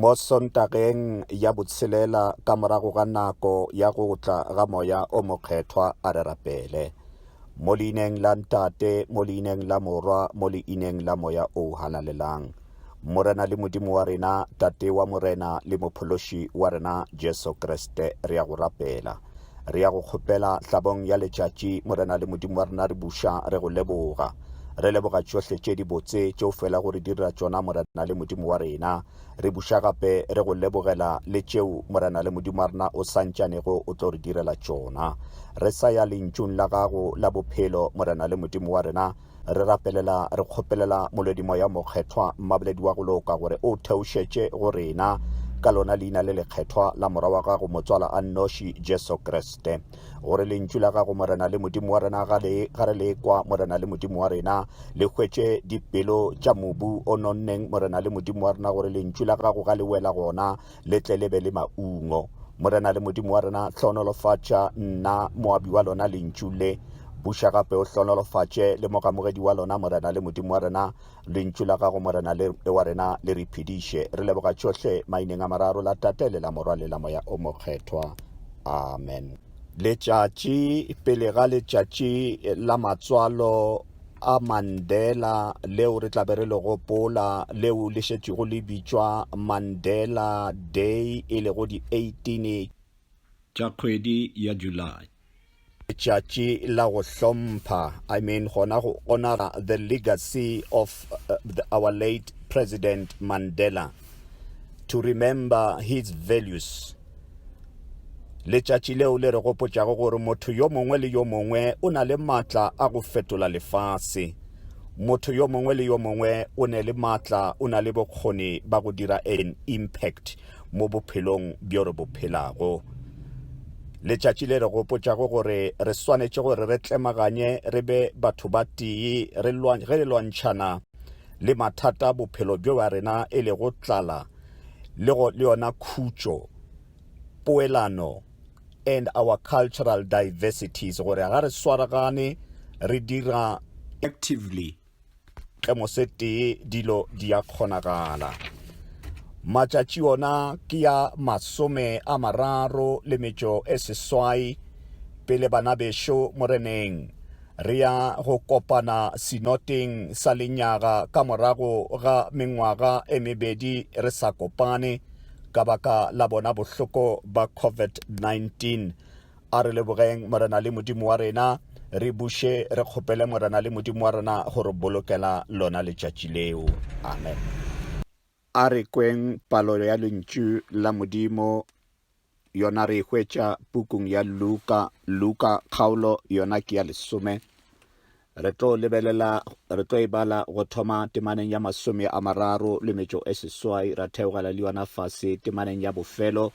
mo sontageng ya botshelela ka morago ga nako ya go tla ga moya o mokgethwa a re rapele mo leineng la ntate mo leineng la morwa mo leineng la moya o halalelang Morena le Modimo wa rena, Tate wa Morena le Mophološi wa rena Jesu Kriste, re ya go rapela. Re ya go kgopela hlabong ya letšatši, Morena le Modimo wa rena, re buša, re go leboga. Re leboga tšohle tše di botse tše o fela go re dira tšona, Morena le Modimo wa rena. Re buša gape re go lebogela le tšeo, Morena le Modimo wa rena, o santšanego o tlo re direla tšona. Re sa ya lentšung la gago la bophelo, Morena le Modimo wa rena, re rapelela re kgopelela molwedimoya mokgethwa mmaboledi wa go loka gore o theošetše go rena ka lona leina le lekgethwa la mora wa gago motswala a nnoši jesu kriste gore lentšu la gago morena le modimo wa rena ga le ga re le kwa morena le modimo wa rena le hwetše dipelo tša mobu o nonneng morena le modimo wa rena gore lentšu la gago ga le wela gona le tle le be le maungo morena le modimo wa rena hlonolofatša nna moabi wa lona lentšu le buša gape o hlonolofatše le mogamogedi wa lona morena le modimo wa rena lentšu la gago morena le wa rena le re phediše re leboga tšohle maineng a mararo la tate le la morwa le la moya o mokgethwa amen letšatši pele ga letšatši la matswalo a Mandela leo re tla be re le gopola leo le šetšego le bitšwa Mandela Day e lego di 18 tša kgwedi ya July. Letšatši la go hlompha, I mean gona go honora the legacy of uh, the, our late President Mandela, to remember his values. Letšatši leo le re gopotšago gore motho yo mongwe le yo mongwe o na le maatla a go fetola lefase. Motho yo mongwe le yo mongwe o ne le maatla, o na le bokgoni ba go dira an impact mo bophelong bjo re bo phelago. Letšatši le re gopotšago gore re swanetše gore re tlemaganye re be batho ba tee ge re lwantšhana le mathata bophelo bjo ba rena e lego tlala, le go le yona khutšo poelano and our cultural diversities gore ga re swaragane re dira actively tee dilo di a kgonagala matšatši ona ke ya masome a mararo le metšo e seswai pele bana bešo moreneng Re ya go kopana sinoteng sa lenyaga ka morago ga mengwaga e mebedi re sa kopane ka baka la bona bohloko ba COVID-19. A re lebogeng Morena le Modimo wa rena, re buše re kgopele Morena le Modimo wa rena go re bolokela lona letšatši leo. Amen. A re kweng palo ya lentšu la Modimo, yona re e hwetša pukung ya Luka. Luka kgaolo yona ke ya lesome. Re tlo lebelela, re tlo e bala go thoma temaneng ya masome a mararo le metšo e seswai, ra theogela le yona fase temaneng ya bofelo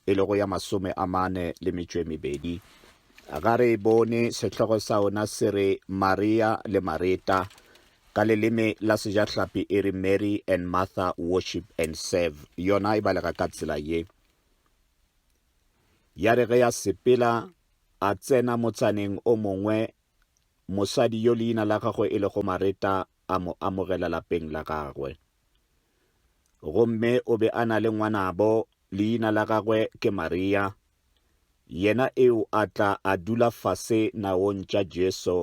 e lego ya masome a mane le metšo e mebedi. Ga re e bone, sehlogo sa ona se re Maria le Mareta, ka leleme la sejahlapi e re Mary and Martha worship and serve, yona e balega ka tsela ye. Ya re ge ya sepela, a tsena motsaneng o mongwe, mosadi yo leina la gagwe e lego Mareta a mo amogela lapeng la gagwe. Gomme o be a na le ngwanabo, leina la gagwe ke Maria, yena eo a tla a dula fase naong tša Jesu,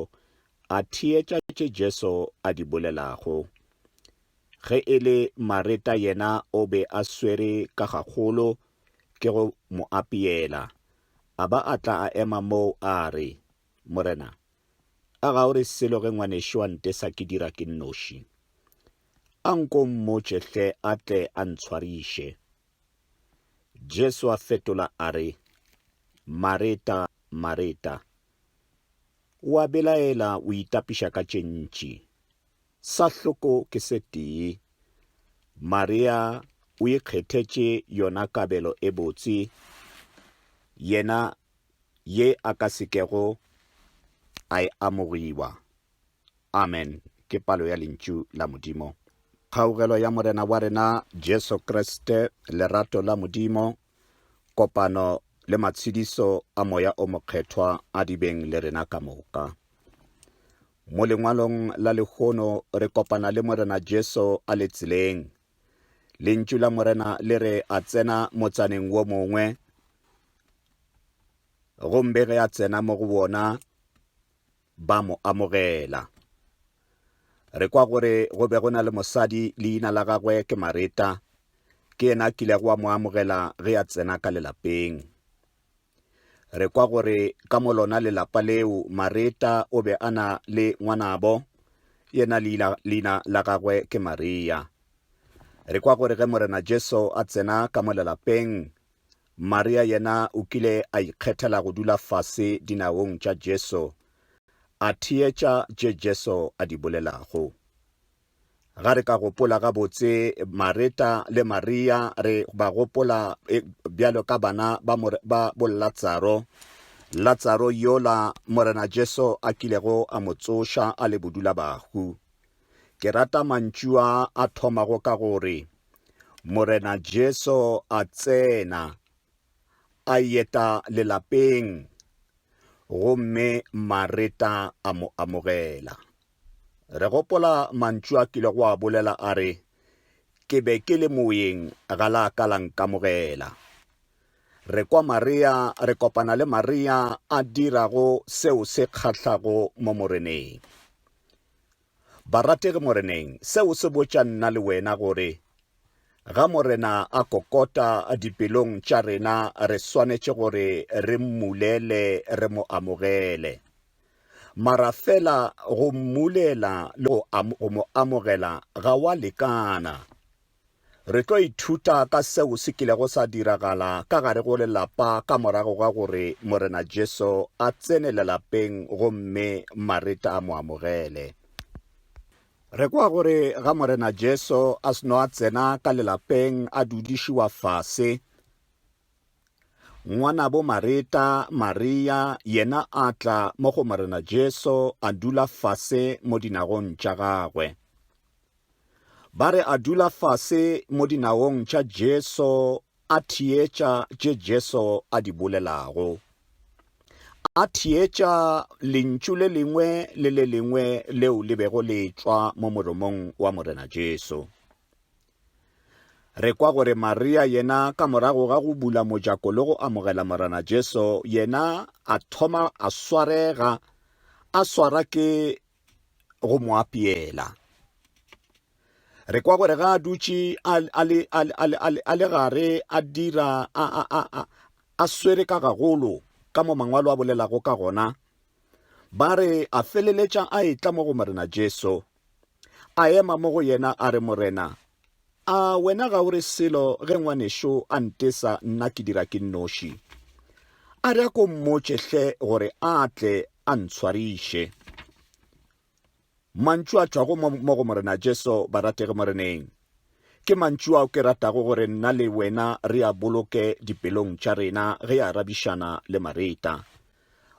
a theetša tše Jesu a di bolelago. Ge e le Mareta yena o be a swere ka gagolo ke go mo apeela, a ba a tla a ema moo a re, Morena, a ga o re selo ge ngwanešu a ntesa ke dira ke nnoši? A nko o mmotše hle a tle a ntshwariše. Jesu a fetola a re, Mareta, Mareta, o a belaela o itapiša ka tše ntši. Sa hloko ke se tee. Maria o ikgethetše yona kabelo e botse, yena ye a ka se kego a e amogiwa. Amen. Ke palo ya Lentšu la Modimo. Kgaugelo ya Morena wa rena Jesu Kriste, lerato la Modimo, kopano le matshediso a Moya o Mokgethwa a di beng le rena ka moka. Mo lengwalong la lehono re kopana le Morena Jesu a le tseleng Lentšu la Morena le re a tsena motsaneng wo mongwe, gombe ge a tsena mo go wona ba mo amogela. Re kwa gore go be go na le mosadi leina la gagwe ke Mareta, ke yena kilego wa mo amogela ge a tsena ka lelapeng. Re kwa gore ka mo lona lelapa leo Mareta o be a na le ngwanabo, yena leina, leina la gagwe ke Maria. Re kwa gore ge Morena Jesu a tsena ka mo lelapeng, Maria yena o kile a ikgethela go dula fase dinaong tša Jesu, a theetša tše Jesu a di bolelago. Ga re ka gopola gabotse Mareta le Maria, re ba gopola e, bjalo ka bana ba, more, ba bo Latsaro. Latsaro yola Morena Jesu a kilego a mo tsoša a le bodulabahu. Ke rata mantšu a a thomago ka gore Morena Jesu a tsena a yeta lelapeng gomme Mareta a mo amogela. Re gopola mantšu a kilego a bolela a re, Ke be ke le moyeng ga la ka la nkamogela. Re kwa Maria, re kopana le Maria a dirago seo se kgahlago mo Moreneng. Barategi Moreneng, seo se botša nna le wena gore ga Morena a kokota dipelong tša rena re swanetše gore re mmulele re mo amogele. Mara fela go mmulela le go, am, go mo amogela ga wa lekana. Re tlo ithuta ka seo se kilego sa diragala ka gare go lelapa ka morago ga gore Morena Jesu a tsene lelapeng gomme Mareta a mo amogele. Re kwa gore ga Morena Jesu a seno a tsena ka lelapeng a dudišiwa fase, Ngwanabo Mareta, Maria, yena a tla mo go Morena Jesu a dula fase mo dinagong tša gagwe. Ba re a dula fase mo dinagong tša Jesu a theetša tše Jesu a di bolelago. A theetša lentšu le lengwe le le lengwe leo le bego le tšwa mo moromong wa Morena Jesu. Re kwa gore Maria yena ka morago ga go bula mojako le go amogela Morena Jesu, yena a thoma a swarega, a swara ke go mo apeela. Re kwa gore ga a dutše a le gare a dira a swere ka gagolo ka mo mangwalo a bolelago ka gona ba re a feleletša a etla mo go morena jesu A ema mo go yena a re, Morena, a wena ga o re selo ge ngwanešo a ntesa nna ke dira ke nnoši? A re a ko mmotše hle gore a tle a ntshwariše. Mantšu a tšwago mo go Morena Jesu ba ratege Moreneng. Ke mantšu ao ke ratago gore nna le wena re a boloke dipelong tša rena ge a arabišana le Mareta.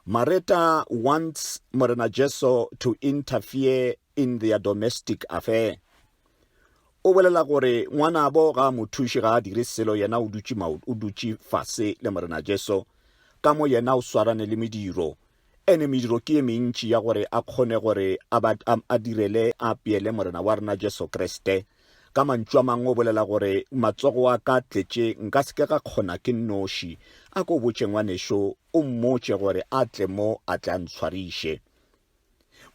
Mareta wants Morena Jesu to interfere in their domestic affair. O bolela gore ngwanabo ga a mo thuše, ga a dire selo, yena o dutše maoto, o dutše fase le Morena Jesu, ka mo yena o swarane le mediro. Ene mediro ke ye mentši ya gore a kgone gore a, ba, a, a direle, a apeele Morena wa rena Jesu Kriste. Ka mantšu a mangwe o bolela gore matsogo a ka tletše nka se ke ga kgona ke nnoši. A ko o botše ngwanešo, o mmotše gore a tle mo a tle a ntshwariše.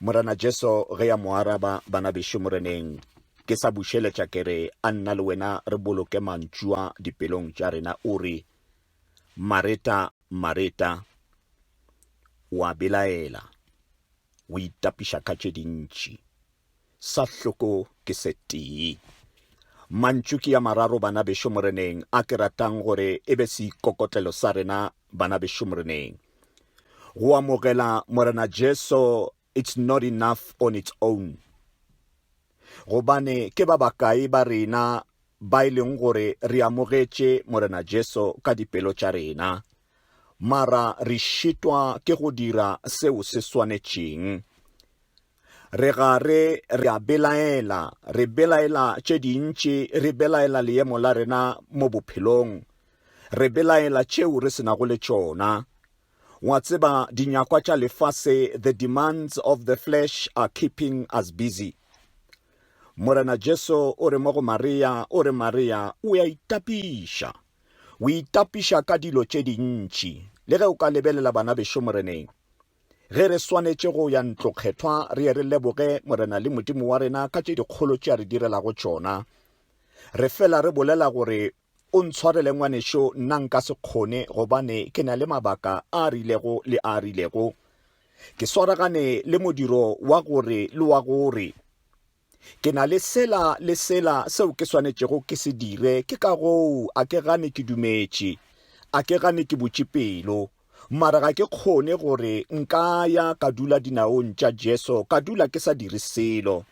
Morena Jesu ge ya mo araba, Bana bešo Moreneng, ke sa bušeletša ke re, a nna le wena re boloke mantšu a dipelong tša rena, o re, Mareta, Mareta, o a belaela, o itapiša ka tše dintši. sa hloko ke se tee. Mantšu ke ya mararo bana bešo moreneng a ke ratang gore e be seikokotlelo sa rena bana bešo moreneng. Go amogela Morena Jesu it's not enough on its own. Gobane ke ba bakae ba rena ba e leng gore re amogetše Morena Jesu ka dipelo tša rena, mara re šitwa ke go dira seo se swanetšeng. Re ga re re a belaela, re belaela tše dintši, re belaela leemo la rena mo bophelong, re belaela tšeo re senago le tšona. Wa tseba, dinyakwa tša lefase, the demands of the flesh are keeping us busy. Morena Jesu o re mo go Maria, o re Maria, o ya itapiša. O itapiša ka dilo tše dintši, le ge o ka lebelela bana bešo moreneng. Ge re swanetše go ya ntlokgethwa, re ye re leboge Morena le Modimo wa rena ka tše dikgolo tše a re direlago tšona. Re fela re bolela gore, O ntshwarele ngwanešo, nna nka se kgone gobane ke na le mabaka a rilego le a rilego. Ke swaragane le modiro wa gore le wa gore. Ke na le sela le sela seo ke swanetšego ke se dire, ke ka goo a ke gane ke dumetše. A ke gane ke butše pelo. Mara ga ke kgone gore nka ya ka dula dinaong tša Jesu ka dula ke sa dire selo.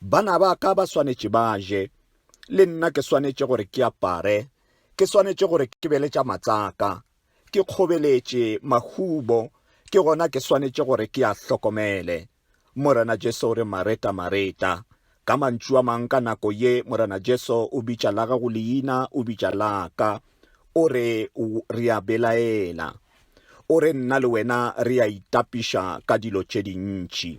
Bana ba ka ba swanetše ba je. Le nna ke swanetše gore ke apare. Ke swanetše gore ke be le tša matsaka. Ke kgobeletše, mahubo, ke gona ke swanetše gore ke a hlokomele. Morena Jesu o re, Mareta, Mareta. Ka mantšu a mang ka nako ye, Morena Jesu o bitša la gago leina, o bitša la ka. O re, Re a belaela. O re, Nna le wena re a itapiša ka dilo tše dintši.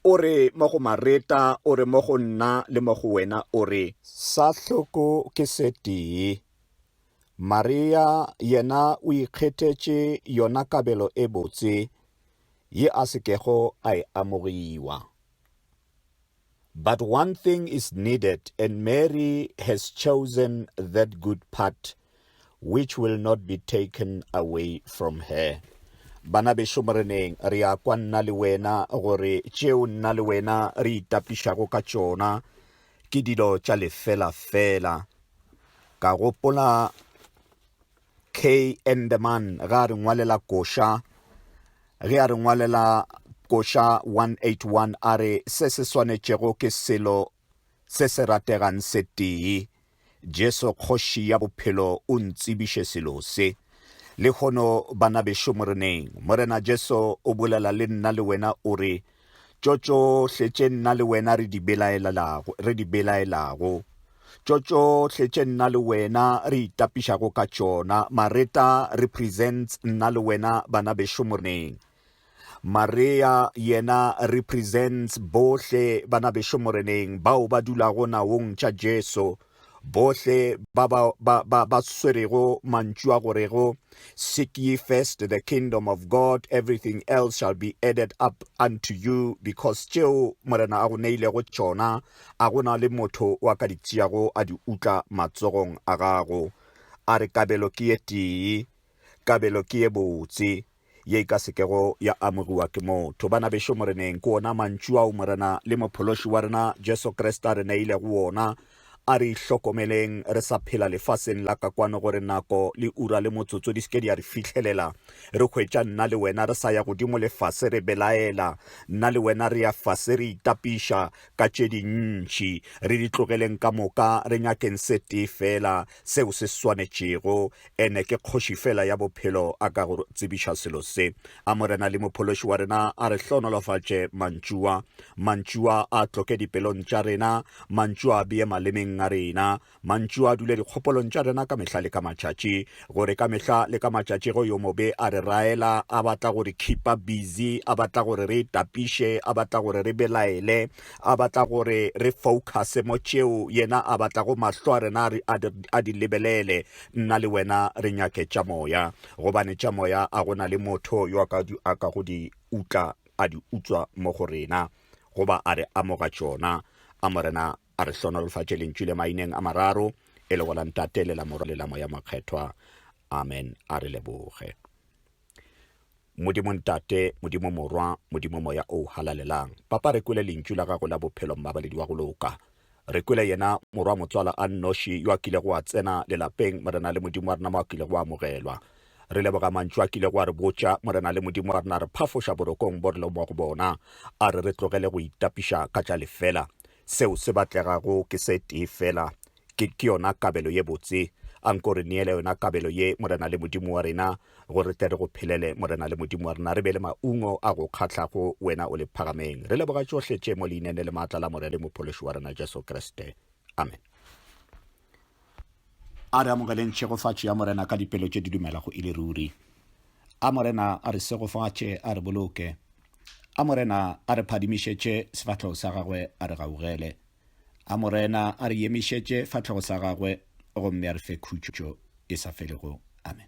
O re, Mo go Mareta, o re, Mo go nna le mo go wena, o re. Sa hloko ke se tee. Maria yena o ikgethetše yona kabelo e botse, ye a se kego a e amogiwa. But one thing is needed and Mary has chosen that good part which will not be taken away from her. Bana bešo Moreneng, re a kwa nna le wena gore tšeo nna le wena re itapišago ka tšona ke dilo tša lefela-fela. Ka gopola Kn the man ge a re ngwalela koša ge a re ngwalela koša 181 a re se se swanetšego ke selo se se rategang se tee jesu kgoši ya bophelo o ntsebiše selo se lehono bana bešo moreneng morena jesu o bolela le nna le wena o re tšo tšohle tše nna le wena re di belaelago, re di belaelago, tšo tšohle tše nna le wena re itapišago ka tšona. Mareta represents nna le wena bana bešo moreneng. Maria yena represents bohle bana bešo moreneng bao ba dulago naong tša Jesu. Bohle ba ba, ba, ba, ba swerego mantšu a go rego Seek ye first the kingdom of God, everything else shall be added up unto you, because tšeo Morena a go neilego tšona a gona le motho wa ka di tšeago a di utla matsogong a gago. A re kabelo ke ye tee, kabelo ke ye botse. ye e ka se kego ya amogiwa ke motho. Bana bešo Moreneng ke wona mantšu ao Morena le Mophološi wa rena Jesu Kriste a re neilego wona, a re, Ihlokomeleng re sa phela lefaseng la ka kwano gore nako le ura le motsotso di se ke di a re fihlelela. Re hwetša nna le wena re sa ya godimo le fase re belaela, nna le wena re ya fase re itapiša ka tše dintši. Re di tlogeleng ka moka re nyakeng se tee feela, seo se swanetšego. Ene ke Kgoši fela ya bophelo a ka go tsebiša selo se. A Morena le Mophološi wa rena a re hlohonolofatše mantšua. Mantšua a tloke dipelong tša rena, mantšua a bee malemeng a rena, mantšua a dule dikgopolong tša rena ka mehla le ka matšatši, gore ka mehla le ka matšatši go yo mobe a re raela, a batla gore khipa busy, a batla gore re tapiše, a batla gore re belaele, A batla gore re foukhase mo tšeo Yena a batlago mahlo a rena re a di, a di lebelele. Nna le wena re nyake tša moya, gobane tša moya a go na le motho yo a ka, a ka go di utla, a di utswa mo go rena, goba a re amoga tšona. A Morena a re hlohonolofatše Lentšu le maineng a mararo, e lego la Ntate le la Morwa le la Moya Mokgethwa. Amen. A re leboge. Modimo Ntate, Modimo Morwa, Modimo Moya o Halalelang, Papa, re kwele Lentšu la Gago la Bophelo, Mmabaledi wa go loka. Re kwele yena Morwa Motswala a nnoši yo a kilego a tsena lelapeng, Morena le Modimo wa rena, mo a kilego a amogelwa. Re leboga Mantšu a kilego a re botša, Morena le Modimo wa rena, re phafoša borokong bo re lego mo go bona, a re re tlogele go itapiša ka tša lefela. Seo se batlegago ke se tee feela, Ke, ke yona kabelo ye botse. A nko re neele yona kabelo ye, Morena le Modimo wa rena, go re tle re go phelele, Morena le Modimo wa rena, re be le maungo a go kgahlago, Wena o le phagameng. Re leboga tšohle tše mo Leinene le maatla la Morele Mophološi wa rena Jesu Kriste. Amen. A re amogeleng tšhegofatšo ya Morena ka dipelo tše di dumelago e le ruri. A Morena a re segofatše, a re boloke. A Morena a re phadimišetše sefahlego sa gagwe, a re gaugele. A Morena a re yemišetše fatlhego sa gagwe gomme a re fe khutšo e sa felego. Amen.